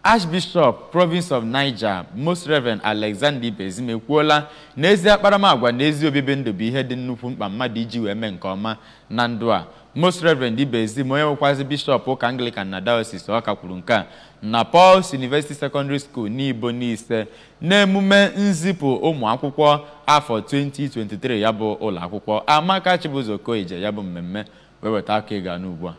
Archbishop Province of Niger Most Reverend Alexander Ibezim ekwuola na ezi akparamagwa na ezi obibi ndụ bụ ihe dị nnukwu mkpa mmadụ iji wee mee nke ọma na ndụ a Most Reverend Ibezim onye bụkwazi bishọp ụka Anglican na Diocese Ọka kwuru nke a na Paul's University Secondary School Nibo Nise n'emume nzipụ ụmụ akwụkwọ afọ 2023 ya bụ ụlọ akwụkwọ Amaka Chibụzọ Okoye je ya bụ mmemme wee weta aka ịga n'ugbu a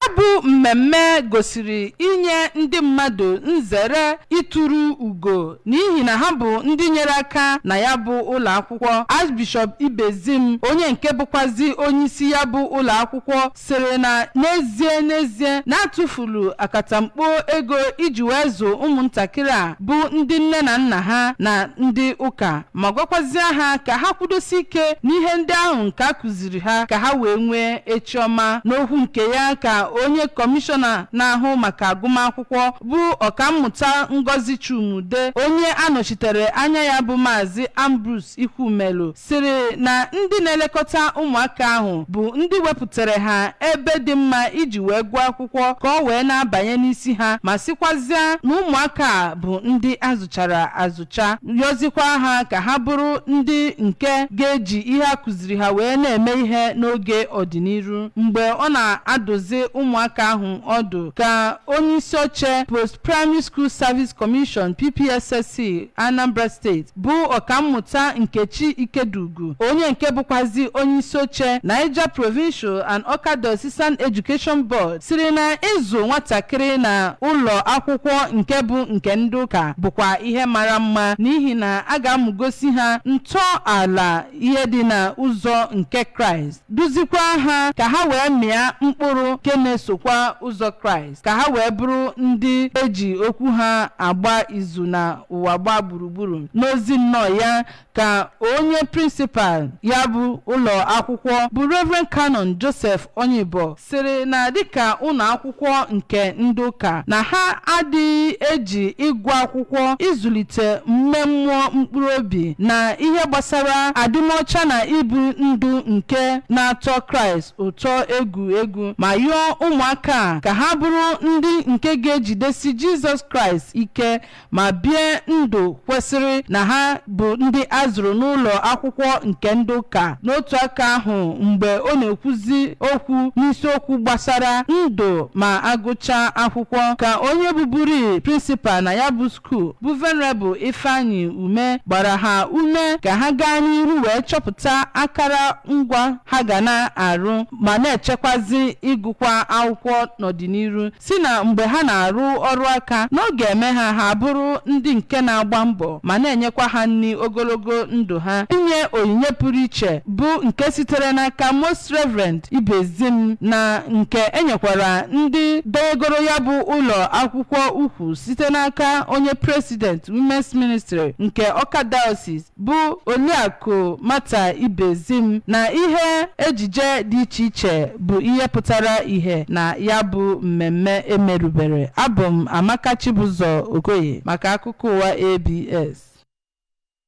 Ya bụ mmemme gosiri inye ndị mmadụ nzere ịtụrụ ugo n'ihi na ha bụ ndị nyere aka na ya bụ ụlọ akwụkwọ Archbishop Ibezim onye nke bụkwazi onyeisi ya bụ ụlọ akwụkwọ sịrị na n'ezie n'ezie na a tụfuru akatamkpo ego iji wee zụ ụmụntakịrị a bụ ndị nne na nna ha na ndị ụka ma gwakwazie ha ka ha kwudosi ike n'ihe ndị ahụ nke a kụziri kụziri ha ka ha wee nwee echi ọma n'okwu nke ya ka onye kọmishọna na-ahụ maka agụmakwụkwọ bụ ọkammụta Ngozi Chuma-Udeh onye anọchitere anya ya bụ maazị Ambrose Ikwumelu sịrị na ndị na-elekọta ụmụaka ahụ bụ ndị wepụtara ha ebe dị mma iji wee gụọ akwụkwọ ka ọ wee na-abanye n'isi ha ma sịkwazịa na ụmụaka a bụ ndị a zụchara azụ cha yọzikwa ha ka ha bụrụ ndị nke ga-eji ihe a kụziri ha wee na-eme ihe n'oge ọdịniru mgbe ọ na-adụzi ụmụaka ahụ ọdụ ka onye isi oche post primary school service commission ppssc anambra state bụ ọkammụta nkechi ikediugwu onye nke bụkwazi onye isi oche niger provincial and ọka diocesan education board sịrị na ịzụ nwatakịrị na ụlọ akwụkwọ nke bụ nke ndị ụka bụkwa ihe mara mma n'ihi na a ga-amụgosi ha ntọala ihe dị na ụzọ nke kraịst duzikwa ha ka ha wee mịa mkpụrụ nke na-esokwa ụzọ kraịst ka ha wee bụrụ ndị e ji okwu ha agba izu na ụwa gbaa gburugburu n'ozi nnọọ ya ka onye prịnsịpal ya bụ ụlọ akwụkwọ bụ Reverend Canon Joseph Onyibo sịrị na dịka ụlọ akwụkwọ nke ndị ụka na ha adịghị eji ịgụ akwụkwọ ịzụlite ime mmụọ mkpụrụ obi na ihe gbasara adịmọcha na ibu ndụ nke na-atọ Kraịst ụtọ egwu egwu ma yọọ ụmụaka a ka ha bụrụ ndị nke ga-ejidesi Jizọs Kraịst ike ma bie ndụ kwesịrị na ha bụ ndị a zụrụ n'ụlọ akwụkwọ nke ndị ụka n'otu aka ahụ mgbe ọ na-ekwuzi okwu n'isiokwu gbasara ndụ ma a gụchaa akwụkwọ ka onye bụburu prịnsịpal na ya bụ skuul bụ venerabụl ifeanyi ume gbara ha ume ka ha gaa n'iru wee chọpụta akara ngwa ha ga na-arụ ma na-echekwazi ịgụkwa akwụkwọ n'ọdịniru si na mgbe ha na-arụ ọrụ aka na ọ ga-eme ha ha abụrụ ndị nke na-agba mbọ ma na-enyekwa ha nri ogologo ndụ ha inye onyinye pụrụ iche bụ nke sitere n'aka Most Reverend Ibezim na nke enyekwara ndị duogoro ya bụ ụlọ akwụkwọ ukwu site n'aka onye president Women's Ministry nke Ọka Diocese bụ Oliakụ Martha Ibezim na ihe ejije dị iche iche bụ ihe pụtara ihe na ya bụ mmemme emerubere. Abụ m Amaka Chibụzọ Okoye maka akụkọ ụwa ABS.